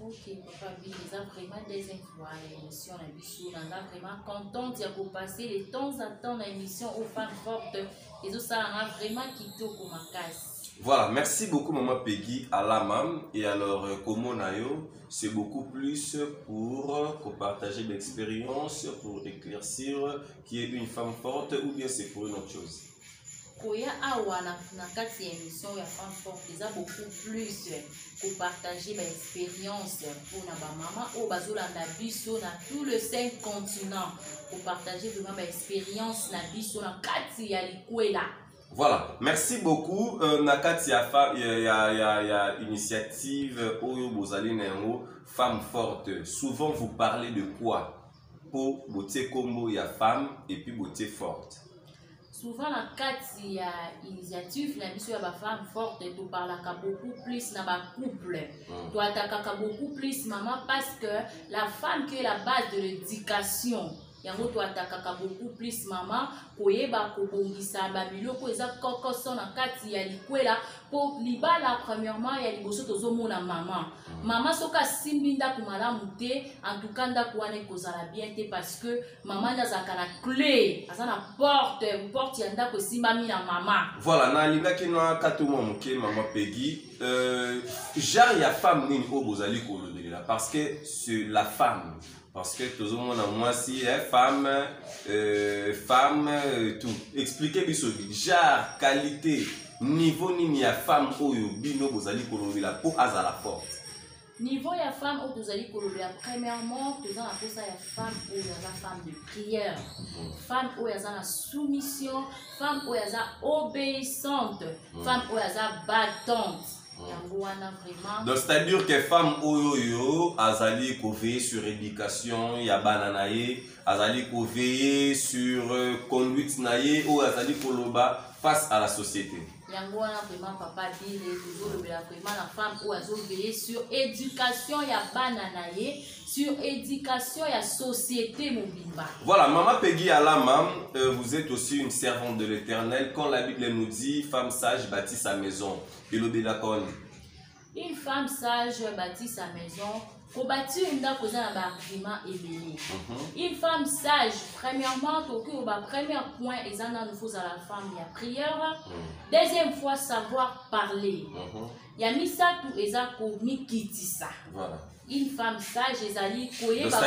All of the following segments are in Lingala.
ok papa bino eza vraiment deuxième fois na émission na biso naza vraiment contente ya kopase de temps à temps na émission au femme forte ezosala nga vraiment kitoko makasi voilà merci beaucoup maman peggy alamam et alors euh, komona yo c'est beaucoup plus pour euh, kopartager d'expérience pour éclaircir qui est une femme forte ou bien c'est pour une autre chose koya awa na, na kati ya émission ya femme forte eza beaucoup plus kopartage baexpérience mpona bamama oyo bazolanda biso na tout le cinq continent kopartage vraiment baexpérience na biso na kati ya likwela voilà merci beaucoup euh, na kati ya, ya, ya, ya, ya initiative oyo bozali na yango femme forte souvent vous parlez de quoi mpo botie nkombo ya femme epuis botie forte souvent na kati ya initiative na biso ya bafemme forte toparlaka beaucoup plus na bacouple mm. toatakaka beaucoup plus maman parce que la femme qui est la base de l'éducation yango toatakaka beaucoup plus mama koyeba kobongisa babiloko eza kokoso na kati ya likwela mpo libala premièrement ya liboso tozomona mama mama soki asimbi ndako malamu te en tout cas ndako wana ekozala bien te parce que mama nde azalaka na cle aza na porte porte ya ndako esimbami na mama voilà nalingaki nakati mwa moke mama pegi euh, genre ya femme nini oyo bozali kolobelela parce que sur la femme parce que tozomona mwasi eh, femme euh, femme euh, tout explique biso genre qualité niveau nini ya femme oyo bino bozali kolobela mpo azala forte niveau ya femme oyo tozali kolobela premièrement toza na mposa ya femme oyo aza femme de prière femme oyo aza na soumission femme oyo aza obéissante mm. femme oyo aza battante mm. yango wana vraiment donc c'est à dire que femme oyo oyo azali koveille sur éducation ya bana na ye azali koveille sur euh, conduite na ye oyo azali koloba face à la société yango wana vraiment papa bile tozolobela vraiment na femme oyo azoveye sur éducation ya bana na ye sur éducation ya société mobimba voilà mama pegi alama euh, vous êtes aussi une servante de l'éternel quand la bible nous dit femme sage bâtit sa maison elobelaka wana une femme sage bâtit sa maison kobâtir ndako eza na baargument ebele mhm. une femme sage premièrement tokoki koba première point eza nanu fozala femme ya prière mhm. deuxième fois savoir parler mhm. ya misato eza komikitisa une femme sage ezali koyeba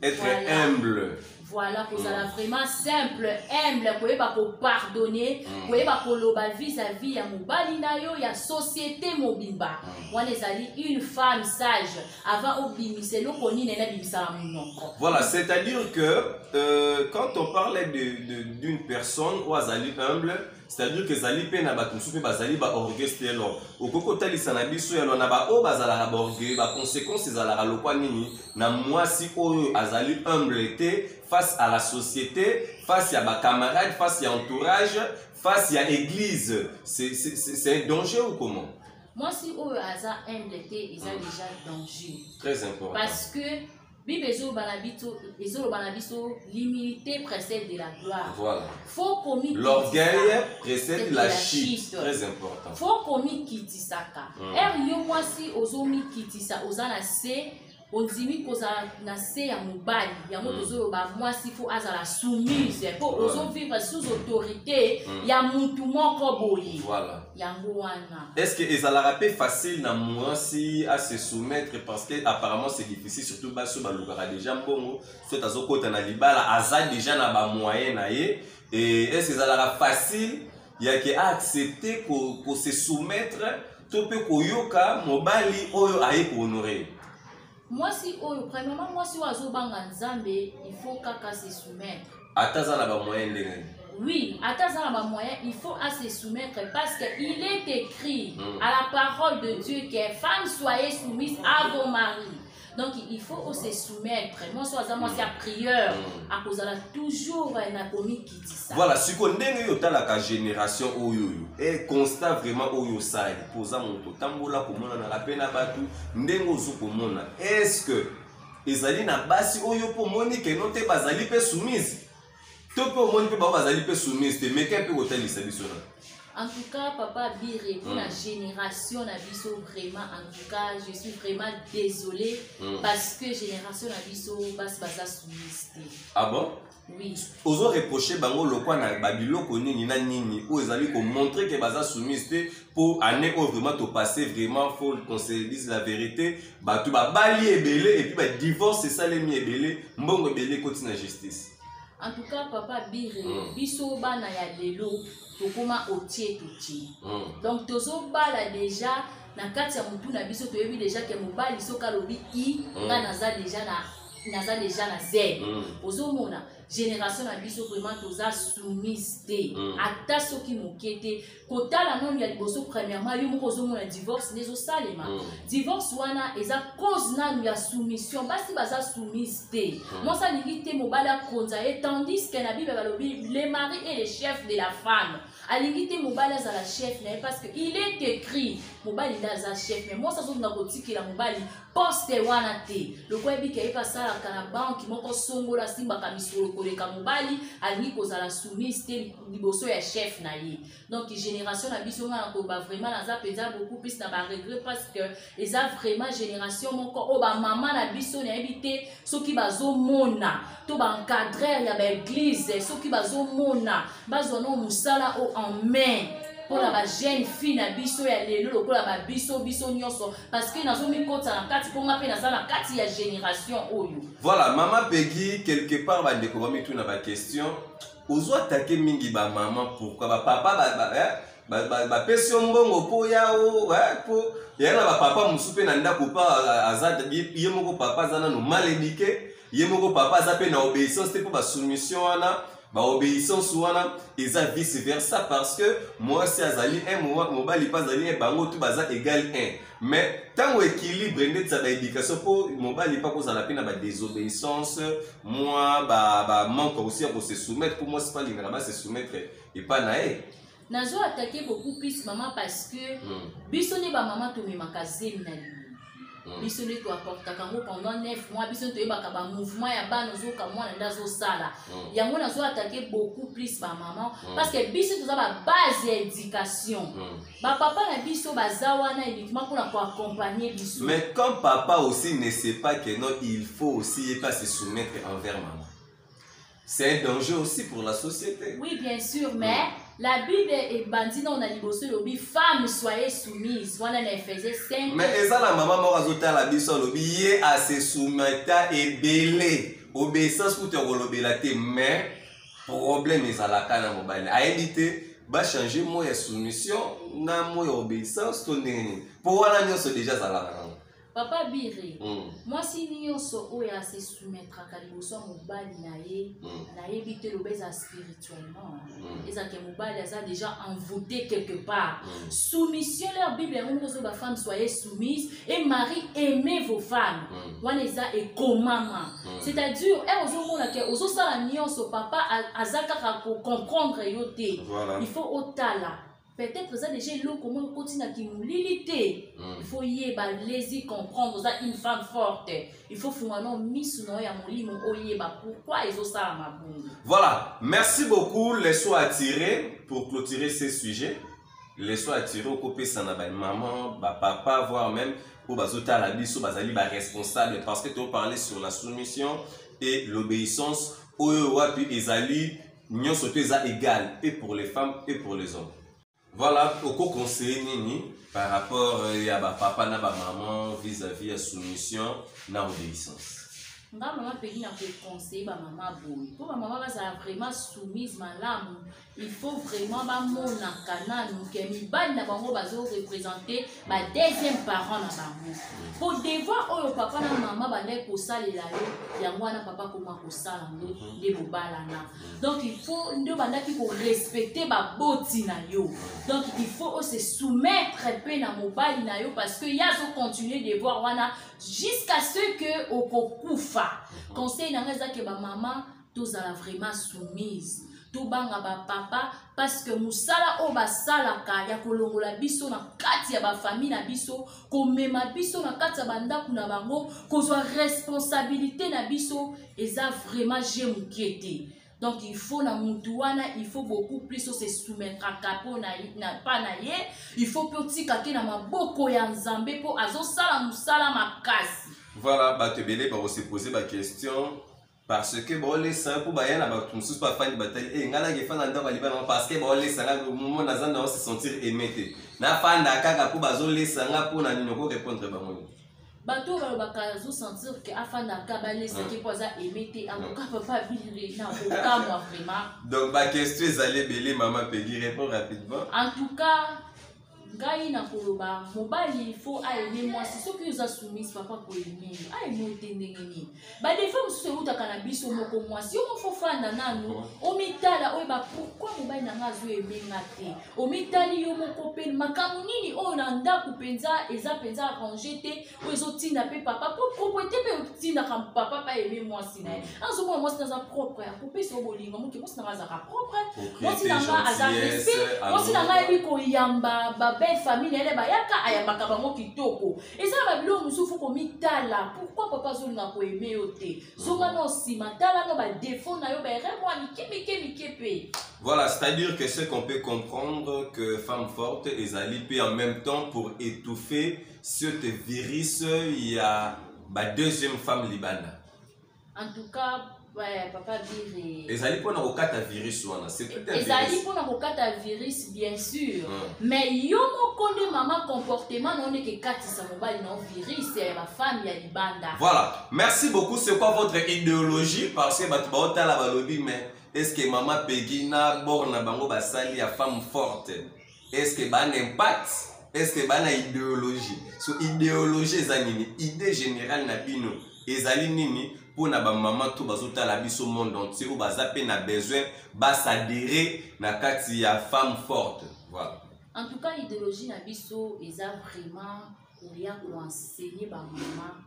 Être voilà. humble. Voilà, pour mm. vraiment simple, humble, koyeba ko pardonner, mm. koyeba koloba vis-à-vis ya mobali na yo, ya société mobimba. Mm. Wana ezali une femme sage avant obimisa eloko nini na bimisa monoko. Voilà, c'est-à-dire que euh, quand on parle d'une de, de, personne ou azali humble, c'est-à-dire que ezali mpe na bato mosusu mpe bazali baorgueil stelon okoki kotalisa na biso yalo na baoyo bazalaka baorgueil baconséquence ezalaka lokwa nini na mwasi oyo azali humble te face à la société face ya bacamarade face ya entourage face ya église c'est un danger ou comment mwasi oyo aza humble te eza hmm. déjà danger très important parce que bible ezoloba na biso ezoloba na biso l'humilité précède de la gloire voilà faut komi l'orgueil précède la chute très important faut komikitisaka mm. ere yo mwasi ozomikitisa oza na se ondimi kozala na se ya mobali yango hmm. tozoloba mwasi fo azala soumise mpo ozovivre sous autorité hmm. ya mutu moko boye yango wana est ce que ezalaka mpe facile na mwasi a se soumettre parce que apparemment c'est difficile surtout basi oyo balukaka déjà mbongo soit azokota na libala aza déjà na bamoyen na ye e est ce que ezalaka facile yake aaccepte ko, ko se soumettre to mpe koyoka mobali oyo aye kohonore mwasi oyo premièrement mwasi oyo azobanga nzambe il faut kaka se soumettre ata aza na bamoyen ndenge nini oui ata aza na bamoyen il faut à se soumettre parce que il est écrit mm. à la parole de dieu que femme soyez soumise à vos maris donc il faut ose soumettre mwasi oyo aza mwasi ya prieur akozala toujours na komiki kobetisa voilà siko ndenge yo otalaka génération oyo oyo e constat vraiment oyo osali mpo oza moto otambola komonanaka mpe na bato ndenge ozo komona est ce que ezali na basi oyo mpo omoni keno te bazali mpe soumise to mpe omoni mpe bango bazali mpe soumise te meke mpe kotalisa biso na En tout cas, papa Biré, pour mm. la génération Nabiso, vraiment, en tout cas, je suis vraiment désolé mm. parce que génération Nabiso, bas basa soumise. Ah bon? ozo reproche bango lokwa na babiloko nini na nini oyo ezali komontre ke baza soumise te mpo année oyo vraiment topasse vraiment fo qu'on se dise la vérité bato babali ebele epuis badivorce esalemi ebele mbongo ebele ekoti na justice en tout cas papa bire mm. biso bana ya lelo tokoma otie totie mm. donc tozobala déjà na kati ya motu na biso toyebi déjà ke mobali soki alobi i mm. nga naza déjà na naza deja na zele mm. ozomona génération na biso vraiment toza soumise te mm. ata soki moke te kotala nanu ya liboso premièrement yo moko ozomona divorce nde ezosalema mm. divorce wana eza cause nanu ya soumission basi baza soumise te mm. mwasi alingi te mobali akonza ye tandis ke na bible balobi le mari et le chef de la femme alingi te mobali azala chef na ye parce que il est écrit mobali nde aza chef mais mwasi azonga kotikela mobali poste wana te lokola yebi ke ayeba asalaka na banki moko songola asimbaka misolo koleka mobali alingi kozala soumise te liboso ya chef na ye donc génération na biso nga na koloba vraiment naza mpenza beaucoup plus na baregret parce que eza vraiment génération moko oyo bamama na biso nayebi te soki bazomona to baencadreur ya baeglize soki bazomona bazwa no mosala o en main mpo na bajeune fille na biso ya lelo lokola babiso biso nyonso parce que nazomikotisa na kati mpo nga mpe naza na kati ya génération oyo voilà mama pegi quelque part bandeko bamituna baquestion ozwa take mingi bamama pourkui bapapa ba, ba, eh? bapesi yo mbongo mpo yao mpo ya na bapapa mosusu mpe na ndako pa aza ye moko papa aza nano mal édike ye moko papa aza mpe na obéissance te mpo basoumission wana baobéissance wana eza vice versa parce que mwasi azali un mobali mpe azali un bango tu baza égal un mais ntango équilibre ndeti za baéducation mpo mobali mpe akozala mpe na badésobéissance mwa bamanque ba aussi ya kose soumettre mpo mwasi mpe alingaka base soumettre epai na ye nazo atake beaucoup plus mama parce que mm. biso nde bamama tomemaka zemi na limo mm. biso nde toapportaka yango pendant 9 mois biso nde toyebaka bamouvement ya bana ozoka mwana nde azosala mm. yango nazo atake beaucoup plus bamama mm. parce que biso toza babase ya éducation mm. bapapa na biso baza wana uniquement mpona koaccompagne biso mais quand papa aussi ne sait pas que non il faut aussi ye mpe se soumettre envers mama C'est un danger aussi pour la société. Oui, bien sûr, mais la Bible est bandit dans la liboso lobi femme soyez soumise. Voilà les faisait 5 Mais eza la maman moko azota la biso lobi ye a se soumeta ebele. Obéissance kutu ya kolobela te mais problème ezalaka na mobali. Ayebi te ba changer mot ya soumission na mot ya obéissance to ndenge nini. Po wana nyonso deja azalaka nango. papa bire mm. mwasi nyonso oyo ase soumettraka liboso ya mobali na ye mm. nayebi te loba eza spirituellement mm. ezalake mobali aza déjà envoûté quelque part mm. soumission leur bible yango moko ozo bafemme soye soumise et marie aimez vos femmes mm. wana eza ekomama mm. c'est-à-dire e ozomona ke ozosala nyonso papa aza kaka kocomprendre yo te voilà. il faut otala peut-être eza déjà eloko moko ekoti na kimolili te hmm. il faut yeba lezi comprendre oza une femme forte il faut funga no misu na yo ya molimo oyeba pourquoi ezosalama bongo voilà merci beaucoup leso attiré pour clôturer ce sujet leso attiré okopesa na bamaman bapapa voire même oyo bazotala biso bazali baresponsable parce que toparle sur la soumission et l'obéissance oyo wapi ezali nionso to eza egal et pour les femmes et pour les hommes voilà okoconseille nini par rapport euh, ya bapapa na bamaman vis-à-vis ya soumission na obéissance nga mama mpengi na koconseille bamama boye mpo bamama bazala vraiment soumise malamu il faut vraiment bamonaka nanu ke mibali na bango bazorepresente ba deuxième parent na bango po devoir oyo papa na mama bandaki kosalela yo yango wana papa akoma kosala ngo mhm. nde bobalana donc il faut nde obandaki korespecte baboti na yo donc il faut ose soumettre mpe na mobali na yo parce que ye azocontinue devoir wana jusqu'à ce que okokufa mhm. conseil na ngai eza ke bamama tozala vraiment soumise tobanga bapapa parce que mosala oyo basalaka ya kolongola biso na kati ya bafamille na biso komema biso na kati ya bandako na bango kozwa responsabilité na biso eza vraiment je moke te donc il faut na mutu wana il faut beaucoup plus ose soumettraka mpo na, na pa na ye il faut mpe otika te na maboko ya nzambe mpo azosala mosala makasi voilà bato ebele bakosepose baquestion parce que baolesa yo mpo baya na bato mosusu bafandi batali e eh, ngai nake efanda ndako ya libala parce que baolesa ngai momo naza na ose sentir aime te nafanda kaka mpo bazolesa ngai mpo na nini okorépondre bango nini bato oyo balobaka azosentir ke afandaka balesaki mpo aza aime te akoka papa bile na kokamwa vraiment donc baquestion ezali ebele mama pegi répond rapidement en tout cas ngai nakoloba mobali fo aime mwasi soki oza soumise papa koyeme aime te ndenge nini badefa mosusu eutaka na biso moko mwasi yo mofo fanda nanu omitala oyeba pourkui mobali na ngai azoyeme nga te omitali yo moko mpe makambo nini oyo na ndako mpenza eza mpenza arrange te oyo ezotinda mpe papa mpo proprete mpe otindaka papa pa aime mwasi na ye mm. azomona mwasi na aza propre akopesa yo bolingo moke mwasi na ngai azalaka propre mwasi na ngai aza respect mwasi na ngai ayebi koyamba babelle famille na ye bayaka ayambaka bango kitoko eza na babilo mosusu komitala pourkui papa azolinga koyeme yo te zonga mm. no nsima tala no badefaut na yo baerreur mwa mike mike mike mpe Voilà, c'est-à-dire que ce qu'on peut comprendre que femme forte est alliée en même temps pour étouffer sur te virus ya ba deuxième femme libanda en tout cas ouais, papa bire ezali mpona kokata virus wana ezali mpona kokata virus bien sûr mm. mais yo moko nde mama comportement nao ndeke ekatisa mobali nao virus ya bafami ya libanda voilà merci beaucoup c'est quoi votre idéologie parce que bato baotala balobi mais est ce que mama pegi na bor na bango basali ya femme forte eske bana impact eske bana ideologie so ideologie eza nini idée générale na bino ezali nini mpo na bamama to bazotala biso monde entier oyo baza mpe na besoin basadere na kati ya femme forte voilà. en tout cas idéologie na biso eza vraiment koya koenseigne bamama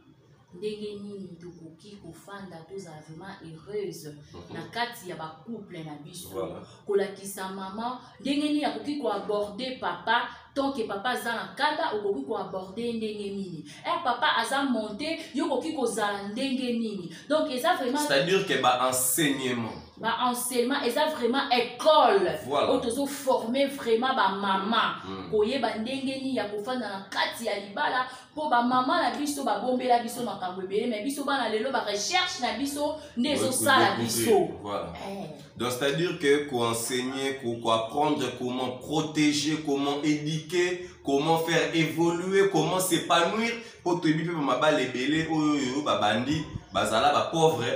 ndenge nini tokoki kofanda tozala vraiment heureuse mhm. na kati ya bacouple na biso kolakisa mama ndenge nini akoki koaborde papa tant que papa aza na kanda okoki koaborde ndenge nini e papa aza monte yo okoki kozala ndenge nini donc eza vraiment c'est-à-dire que baenseignement baenseignement eza vraiment école oyo tozoforme vraiment bamama hmm. koyeba ndenge nini ya kofanda na kati ya libala mpo bamama na biso babombela biso makambo ebele me biso bana lelo barecherche na biso nde ezosala biso voilà. eh. donc c'est à dire que koenseigner koapprendre comment protéger comment éduquer comment faire évoluer comment s'épanouir mpo toyebi mpe bamabala ebele oyo oyo babandi bazala bapauvre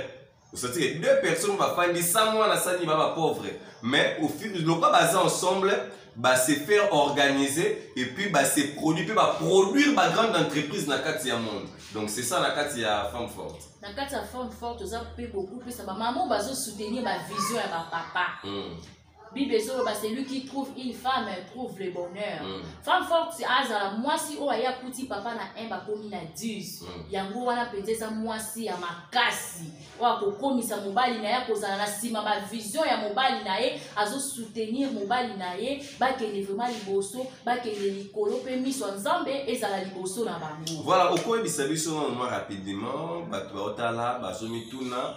osatike deux personnes bafandi sans mwana sani ba bapauvre mais lokola baza ensemble base faire organiser et puis base produit mpe baproduire bagrande entreprise na kati ya monde donc c'est ça na kati ya femme forte na kati ya femme forte oza mpe kokupesa bamama bazosoutenir bavision ya bapapa mm. bible ezoloba celui qui trouve une femme trouve le bonheur mm. femme forte azala mwasi oyo aye akuti papa na 1 bakomi na 10 mm. yango wana mpenza eza mwasi ya makasi oyo akokomisa mobali na ye akozala na nsima bavision ya mobali na ye azosoutenir mobali na ye bakende vraimen liboso bakende likolo mpe miso ya nzambe ezala liboso na bango voilà okoyebisa biso mwa rapidement bato baotala bazomituna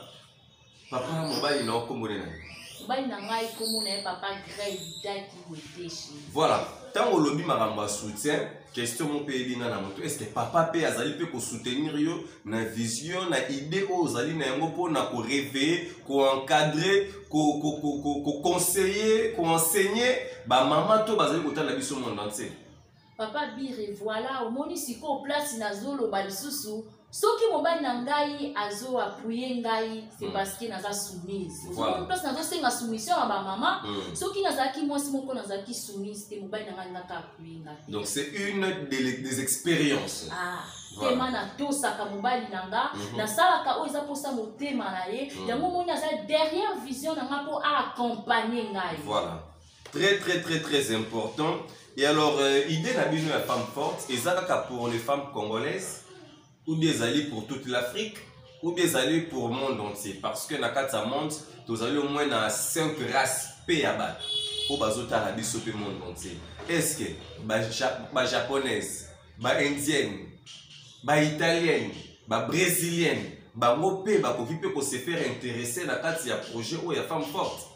papa mobali na nkombo nini na ye mobali na ngai nkombo na ye papa grey daki weteshi voilà ntango olobi makambo ya soutien question moko mpe eyebi ngai na moto est ce que papa mpe azali mpe kosoutenir yo na vision na idée oyo ozali na yango mpo na koreveille koencadre koconseille koenseigne bamama to bazali kotala biso monde entier papa bire voilà omoni sikoyo place nazoloba lisusu soki mobali na ngai azo appuye ngai c'est mm. parce que naza soumise voilà. place nazosenga soumission ya bamama mm. soki nazalaki mwasi moko nazalaki soumise te mobali na ngai ngaka appuye ngai donc c'est une des expériences ah. motema voilà. natosaka mobali na nga mm -hmm. nasalaka oyo eza mposa motema na ye mm -hmm. yango omoni aza derrière vision na nga mpo aaccompagne ngai voilà. très très très très important et alors euh, idée na bino ya femme forte eza kaka pour les femmes congolaises ou bien ezali pour toute l'afrique ou bien ezali pour monde entier parce que na kati ya monde tozali au moins na 5 race mpe ya bato oyo bazotala biso mpe monde entier est ce que bajaponaise ba baindienne baitalienne babrésilienne bango mpe bakoki mpe kose faire interesse na kati ya projet oyo ya femme forte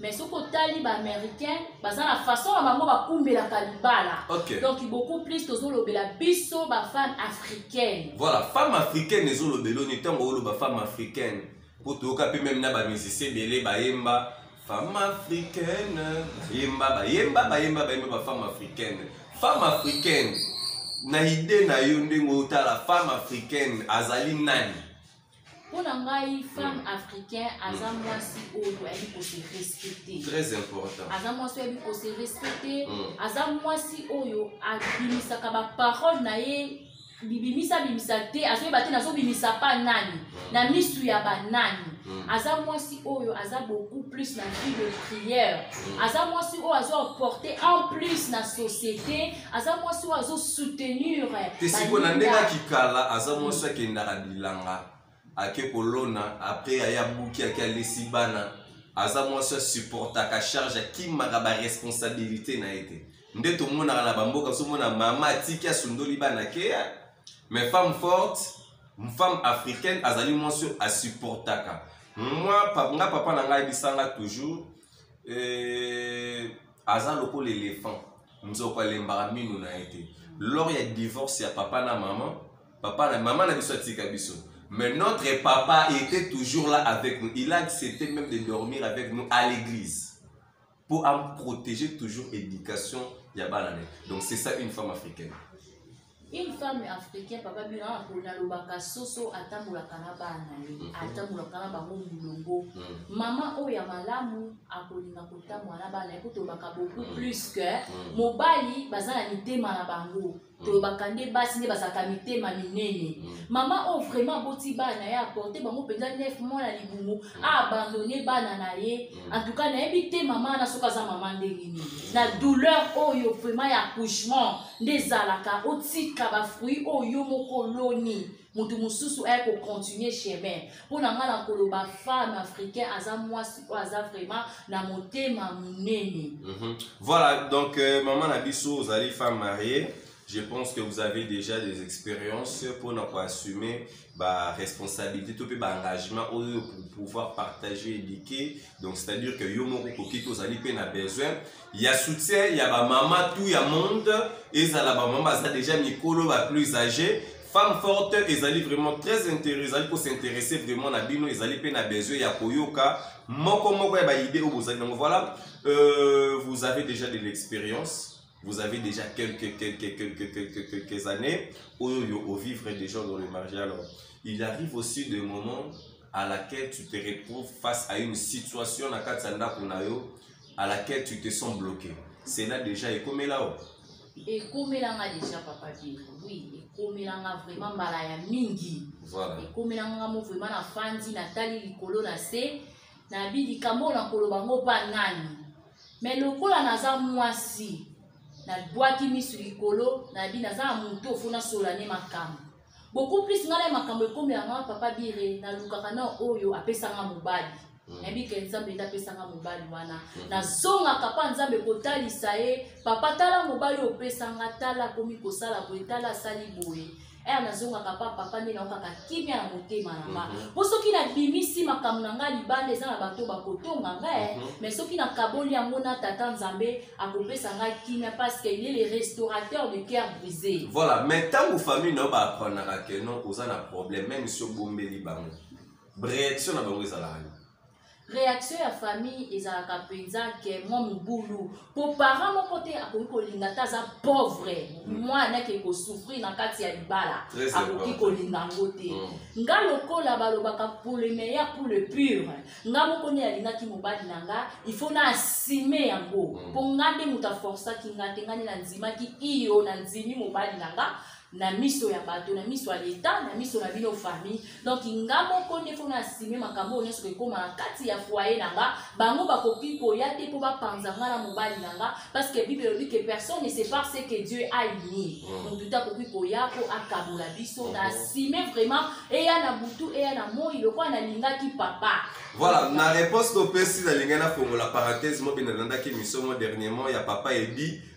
mais soki otali baaméricain baza na façon na bango bakumbelaka libala okay. donc beaucoup plus tozolobela biso bafemme africaine voilà femme africaine ezolobela oni ntango oloba femme africaine mpo toyoka mpe meme na bamusicien ebele bayemba femme africaine bayemba bayemba bayemba bayemba bafemme africaine femme africaine na ide na yo ndenge otala femme africaine azali nani mpo na ngai femme mm. africain aza mm. mwasi oyo ayebi kose respecte très important aza mwasi oyo ayebi kose respecte mm. aza mwasi oyo abimisaka baparole na ye bibimisa bimisa te azoyeba te nazobimisa pa nani na misu ya banani Mm. aza mwasi oyo aza beaucoup plus na vie de prière mm. aza mwasi oyo azo porte en plus na société aza mwasi oyo azo soutenir eh, te siko na ndenge akikala aza mwasi akendaka bilanga ake kolona apres aye abuki ake alesi bana aza mwasi asupportaka charge akimaka baresponsabilité na ye te nde tomonaka na bamboka ozomona mama atiki asundoli bana keya mais femme forte femme africaine azali mwasi oyo asupportaka mwa nga papa na ngai ayebisanga toujours eh, aza lokola elephant nzoko alembaka minu na ye te lors ya divorce ya papa na maman papa na mama na biso atika biso mais notre papa était toujours là avec nous il a accepté même de dormir avec nous à l'église pour protéger toujours éducation ya bana na ye donc c'est ça une femme africaine une femme africaine papa bino awa mpo nalobaka soso atambolaka na bana na ye mhm. atambolaka na bango molongo mhm. mama oyo ya malamu akolinga kotambola na bana ye mpo tolobaka beaucoup mhm. plus que mobali baza na mitema na bango tolobaka nde basi nde bazalaka mitema minene mama oyo vraiment aboti bana ye aporte bango mpenza nef mwana libumu aabandone bana na ye antuka nayebi te mama wana soki aza mama ndenge nini na douleur oyo vraiment ya accouchement nde ezalaka otika bafruit oyo yo moko oloni moto mosusu aye kocontinue chemin mpo na ngai na koloba femme africain aza mwasi oyo aza vraiment na motema monene mm -hmm. voilà donc euh, mama na biso ozali femme mariée je pense que vous avez déjà des expériences pour nous assumer ba responsabilité tout ba engagement pour pouvoir partager éduquer donc c'est à dire que yo moko koki te ozali mpe na besoin ya soutien ya bamama tout ya monde ezala bamama baza déjà mikolo ba plus âgé femme forte ezali vraiment très intérêt ezali kosinteresse vraiment na bino ezali mpe na besoin ya koyoka moko moko ya baide oyo bozali nango voilà euh, vous avez déjà de l'expérience vous avez déjà quelques, quelques, quelques, quelques, quelques années, où vous vivez déjà dans le marché. Alors, il arrive aussi des moments à laquelle tu te retrouves face à une situation na kati ya ndako na yo à laquelle tu te sens bloqué cela déjà ekomela o ekomelanga déjà papa bino oui ekomelanga vraiment mbala ya mingi voilà. ekomelanga ngamo vraiment nafandi natali likolo na se nabi likambo oyo nakoloba ngo mpa nani me lokola naza mwasi nabwaki miso likolo nabi naza na moto ofo nasolola ne makambo beaucoup plus ngai na makambo ekomi yanga papa bire nalukaka na oyo apesanga mobali mm. nayebi ke nzambe nde apesanga mobali wana mm. nazongaka mpa nzambe kotalisa ye papa tala mobali opesanga tala akomi kosala boye tala asali boye aya nazongaka pa papa nde naokaka kimia na motema na nga mhm. mpo soki nabimisi makambo na ngai libanda eza na bato bakotonga ngai eh. mhm. mais soki nakaboli yango na tata nzambe akopesa ngai kimia parce que il est le restaurateur de cœur brisé voilà mais ntango famille na yo baapranaka ke non oza na problème même si obombeli bango réaction na bango ezalaka reaction ya famille ezalaka mpenza ke mwa mobulu mpo parent moko te akoki kolinga ata aza pauvre mwana ake kosouffrir na kati ya libala akoki kolinga yango te mm. nga lokola balobaka pour le meilleur pour le pur nga moko nde alingaki mobali na nga ifo na asime yango mpo mm. nga nde moto aforsaki nga te nga nde nandimaki iyo nandimi mobali na nga na miso ya bato na miso ya leta na miso na bino famille donc nga moko nde mpo na asime makambo oyo nyonso ekoma na kati ya foye na nga bango bakoki koya te mpo bapanza nga na mobali na nga parce que bible elobi que personne ne sépare ce que dieu a uni mm. motu te akoki koya mpo akabola biso na asime mm-hmm. vraiment eya na butu eya na moi lokola nalingaki papa voilà na réponse topesi nalingaki nafongola parenthèse mobina nalandaki mission mo dernièrement ya papa ebi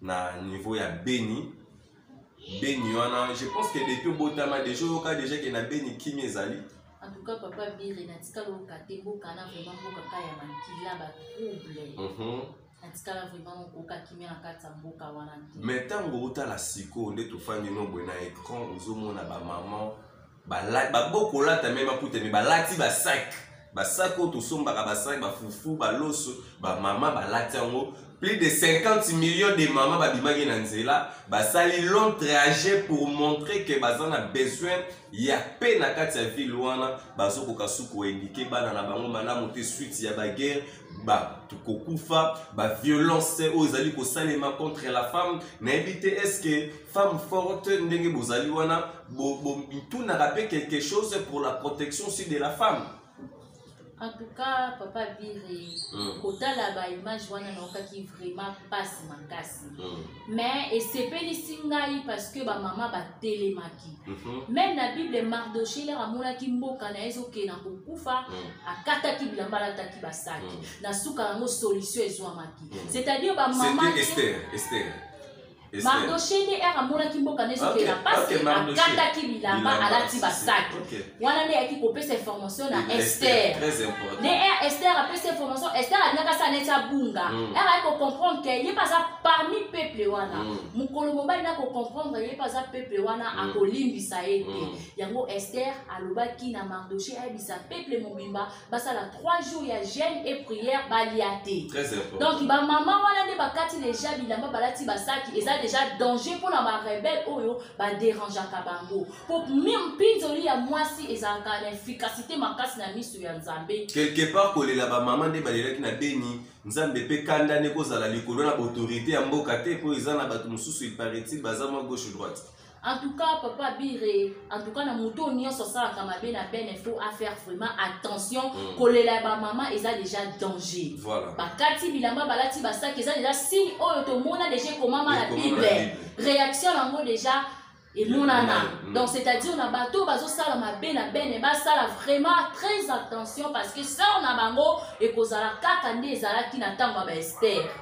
na niveau ya beni beni wana je pense que depuis obotama deja oyoka deja ke na beni kimi ezali en tout cas papa bire natikala oyoka te mboka na vraiment mboka ka ya makila batrouble mhm. natikala vraiment okoka kimia na kati ya mboka wana te mais ntango otala sikoyo nde tofandi nobwe na écran ozomona bamama babokolata me bakuta me balati basak basak oyo tosombaka basak bafufu baloso bamama balati yango plus de 50 millions de mama babimaki na nzela basali long trajet pour montrer que baza na besoin ya pe na kati ya ville wana bazokoka suku koindike bana na bango malamu te suite ya baguerre bato kokufa baviolence oyo ezali kosalema contre la femme nayebi te estce femme forte ndenge bozali wana bitunaka mpe quelque chose pour la protection aussi de la femme en tout cas papa biri mm. kotala baimage wana naokaki vraiment mpasi makasi mm. mais esepelisi ngai parce que bamama batelemaki mhm. meme na bible mardoche lere amonaki mboka na ye ezokee na kokufa mhm. akataki bilamba alataki basaki mhm. na suka yango solution ezwamaki c'est-à-dire bamama mardoche nde ere amonaki mboka na ezokee na mpasi akataki bilamba alati basaki wana nde ayaki kopesa information na ester ne er ester apesa information ester alingaka asa neti abunga mm. er ayaki kocomprendre ke ye mpe aza parmi peuple wana mm. mokolo mobali na kocomprendre ye mpe aza peuple wana mm. akolimbisa ye te yango ester alobaki na mardoche ayebisa peuple mobimba basala 3 jours ya jeune et prière balia te donc bamama wana nde bakati deja bilamba balati basaki eza deja danger mpo na barebele oyo baderangeaka bango mpo mpinzoli ya mwasi ezalaka na efficacité makasi na miso ya nzambe quelque part kolela bamama nde balelaki na beni nzambe mpe kanda nde kozala likolo na baautorité ya mboka te mpo eza na bato mosusu iparaitil baza mwa gauche droite En tout cas, papa Bire, en tout cas, na moto nyonso asalaka mabe na ben il faut faire vraiment attention mm. kolela ba mama eza déjà danger. Voilà. Bakati bilamba balati basaki eza déjà signe oyo tomona déjà ekomama na Bible. Réaction yango déjà emonana mm. donc c'est-à-dire na bato oyo bazosala mabe na bene basala vraiment très attention parce que sœur na bango ekozala kaka nde ezalaki na ntango ya baestere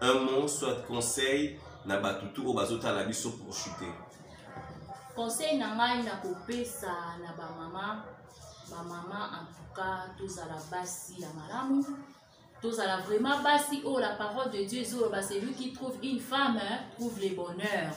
un mot soit conseil na bato tu oyo bazotala biso pour chuter conseil na ngai na kopesa na bamama bamama en tout cas tozala basi ya malamu tozala vraiment basi oyo oh, la parole de dieu ezoloba celui qui trouve une femme trouve le bonheur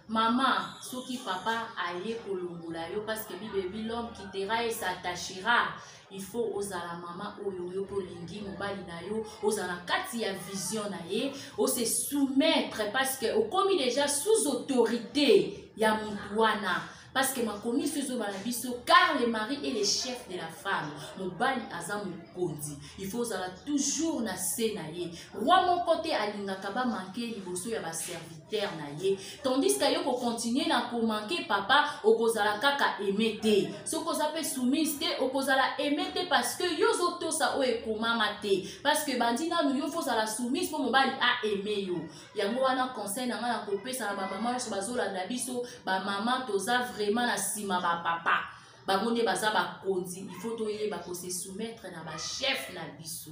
mama soki papa aye kolongola yo parce que bible ebi l'homme quittera et s'attachera il faut ozala mama oyo yo mpe olingi mobali na yo ozala kati ya vision na ye ose soumettre parce que okomi déjà sous autorité ya motu wana parce que makomi so ezoba na biso car le mari est le chef de la femme mobali aza mokonzi il faut ozala toujours na se na ye roi moko te alingaka bamanke liboso ya baserviteur terre na ye tandis que yo kocontinue na komanke papa okozala kaka aime te soki oza mpe soumise te okozala aime te parce que yo ozotosa oyo ekomama te parce que bandi nanu yo fozala soumise mpo mobali aime yo yango wana conseil na ngai na kopesa na bamama nyonso bazolanda biso bamama toza vraiment na nsima bapapa bango nde baza bakonzi il faut toyeba kose soumettre na bachef na biso